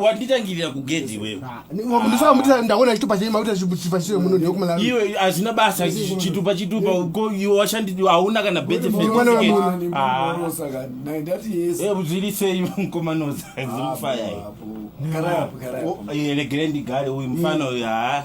wanditangirira kugedhi wewendaona chitupa chemunoiwe hazvina basa chitupa chitupa ko iwe washandi hauna kana bezviri sei mukomanoza zimufaya regerendi gare uyu mufana uyu haa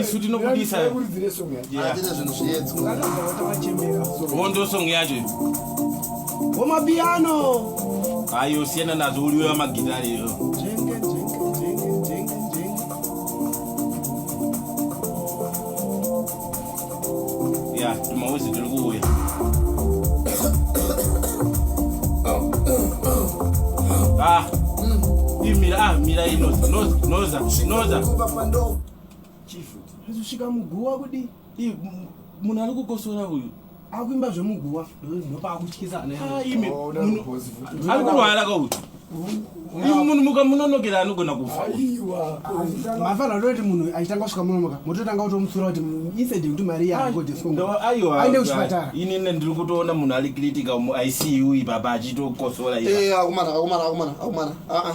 isu tinobudisa hondo song yacho womapiyano ayo siyana nazo uliwe wamagitari iyo ya tumauzi tiri kuuya ah imira ah mira inoza noza noza chifu hazvisvika muguwa kudi munhu ari kukosora uyu akuimba zvemuguwa ndopakutyisa anaimi oh, ari kurwara kauyu imi munhu mukamunonokera anogona kufa mafana ndoti munhu achitanga kusvika munonoka mototanga kutomutsura kuti inside kuti mari yaaiwaende kuchipatara inini ndiri kutoona munhu ari critical muicu ipapa achitokosora eh, akumana akumana akumana akumana aa ah, ah.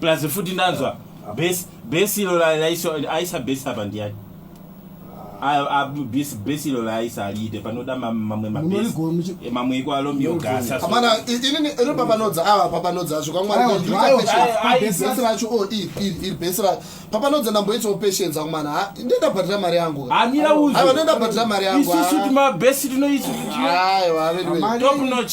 plus futi ndanzwa base base ilo aisa base apa ndiyani base ilo laaisa aliite panoda mamwe mabamamwe iko alomiogasapapanodza ava papanodza asvo kwamwariaese vacho o iri base ra papanodza ndamboitsawo patience ako mana ndendabhatira mari yangu hanira uzo ndendabhatira mari yangu isusu timabase tinoitwa aiwa veduwe top notch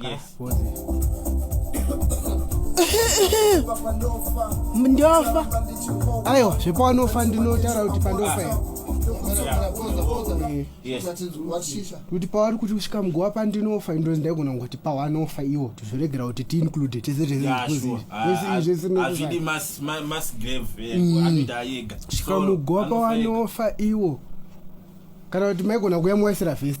Yes. ndofa aiwa zvepanofa ndinotaura kuti pandofa here kuti pavari kuti kusvika muguva pandinofa indozi ndaigona kuti pawanofa iwo tozviregera kuti tiinclude tese tesesvika muguva pawanofa iwo kana kuti maigona kuya muwaisira vhesi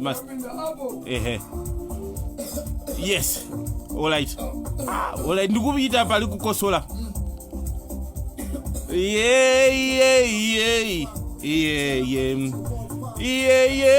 Mas... ehe yes olright ah, olright ndikuita pari kukosola yeyeyeyey iyeye iyeye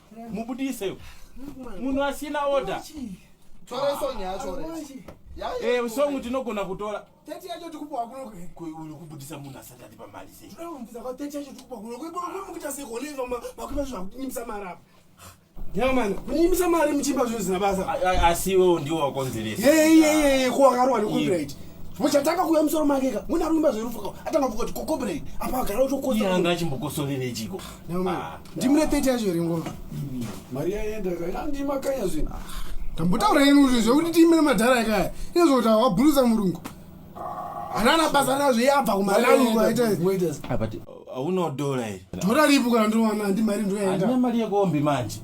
mubudise munhu asina oda eh, songu tinogona kutora uyu kubudisa munhu asati atipa mari seakunyimisa mari muchimba zvinhu zina basa asi iwewo ndiwo wakonzeresa yeyeyeye ko wakarwa necopyright muchatanga kuya musoro makeka muna ruimba zverufuka atanga kukuti kokobrei apa agara utokoanga achimbokosorerechiko Ah, ndimune 30 yacho here ngoma mm. mari yaenda kandimakanya zvinhu tambotaura inu zvekuti tiimire madhara yakaya ine zvokuti wabhulusa murungu hanana basa nazvo yabva kumalangu aitaauno dora iri dora ripo kana ndowana ndi mari ndoyaenda mari yekombi manje